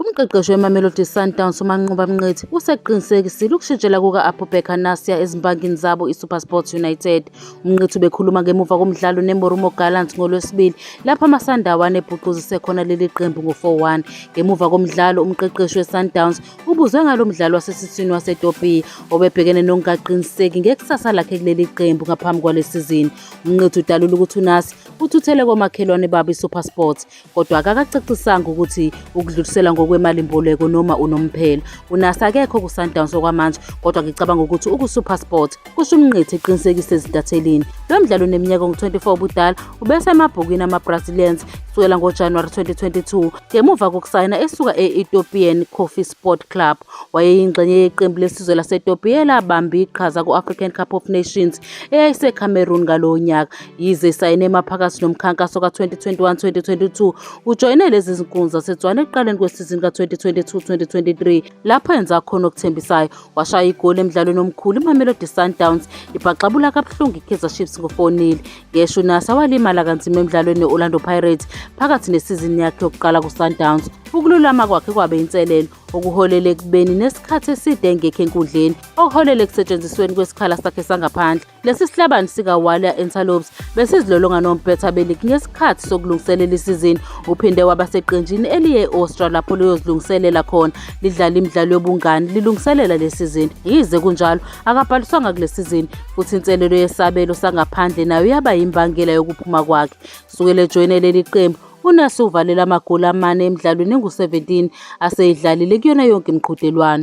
Umqeqeshi weMamelodi Sundowns uManqoba Mnqithi usekuqinisekisile ukushintshela kuka-Abubakar Nasia ezimpangini zabo iSuperSport United. UMnqithi ubekhuluma ngemuva komdlalo neMoromo Gallants ngoLwesibili lapho amaSandawana ebhuquzise khona leli qembu ngo-4-1. Ngemuva komdlalo umqeqeshi weSundowns ubuzwe ngalo mdlalo wasesiswini waseTopiya obebhekene nokungaqiniseki ngekusasa lakhe kuleli qembu ngaphambi kwale sizini. UMnqithi udalule ukuthi uNasia uthuthele komakhelwane babo iSuperSport. kodwa akakacacisanga ukuthi ukudlulisela ngokwemalimboleko noma unomphela unasi akekho kusundowns okwamanje kodwa ngicabanga ukuthi ukusupersport kusho umnqithi eqinisekise ezintathelini lo mdlalo uneminyaka ongu-24 ubudala ubesemabhukwini ama-brazilians kusukela ngojanuwari 2022 ngemuva kokusayina esuka e-ethiopian coffee sport club wayeyingxenye yeqembu lesizwe lasetopiya elabamba iqhaza ku-african cup of nations eyayisecameroon ngalowo nyaka Yize esayine emaphakathi nomkhankaso ka-2021-2022, ujoyine lezi zinkundla zaseTswana ekuqaleni kwesizini ka-2022-2023 lapho enza khona okuthembisayo. Washaya igoli emdlalweni omkhulu iMamelodi Sundowns ibhaxabula kabuhlungu iKaizer Chiefs ngo-4-0. Ngesho uNasa walimala kanzima emdlalweni ne-Orlando Pirates phakathi nesizini yakhe yokuqala kuSundowns. Ukululama kwakhe kwabe inselelo okuholele ekubeni nesikhathi eside engekho enkundleni okuholele ekusetshenzisweni kwesikhala sakhe sangaphandle. Lesi sihlabani sikaWalia Antelopes besizilolonga nompetha beligi ngesikhathi sokulungiselela isizini. Uphinde waba seqenjini eliye e-Austria lapho liyozilungiselela khona lidlala imidlalo yobungani lilungiselela le sizini. Yize kunjalo akabhaliswanga kule sizini futhi inselelo yesabelo sangaphandle nayo yaba yimbangela yokuphuma kwakhe. Sukela ejoyine leli qembu uNasu uvalele amagoli amane emidlalweni engu-17 aseyidlalile kuyona yonke imiqhudelwano.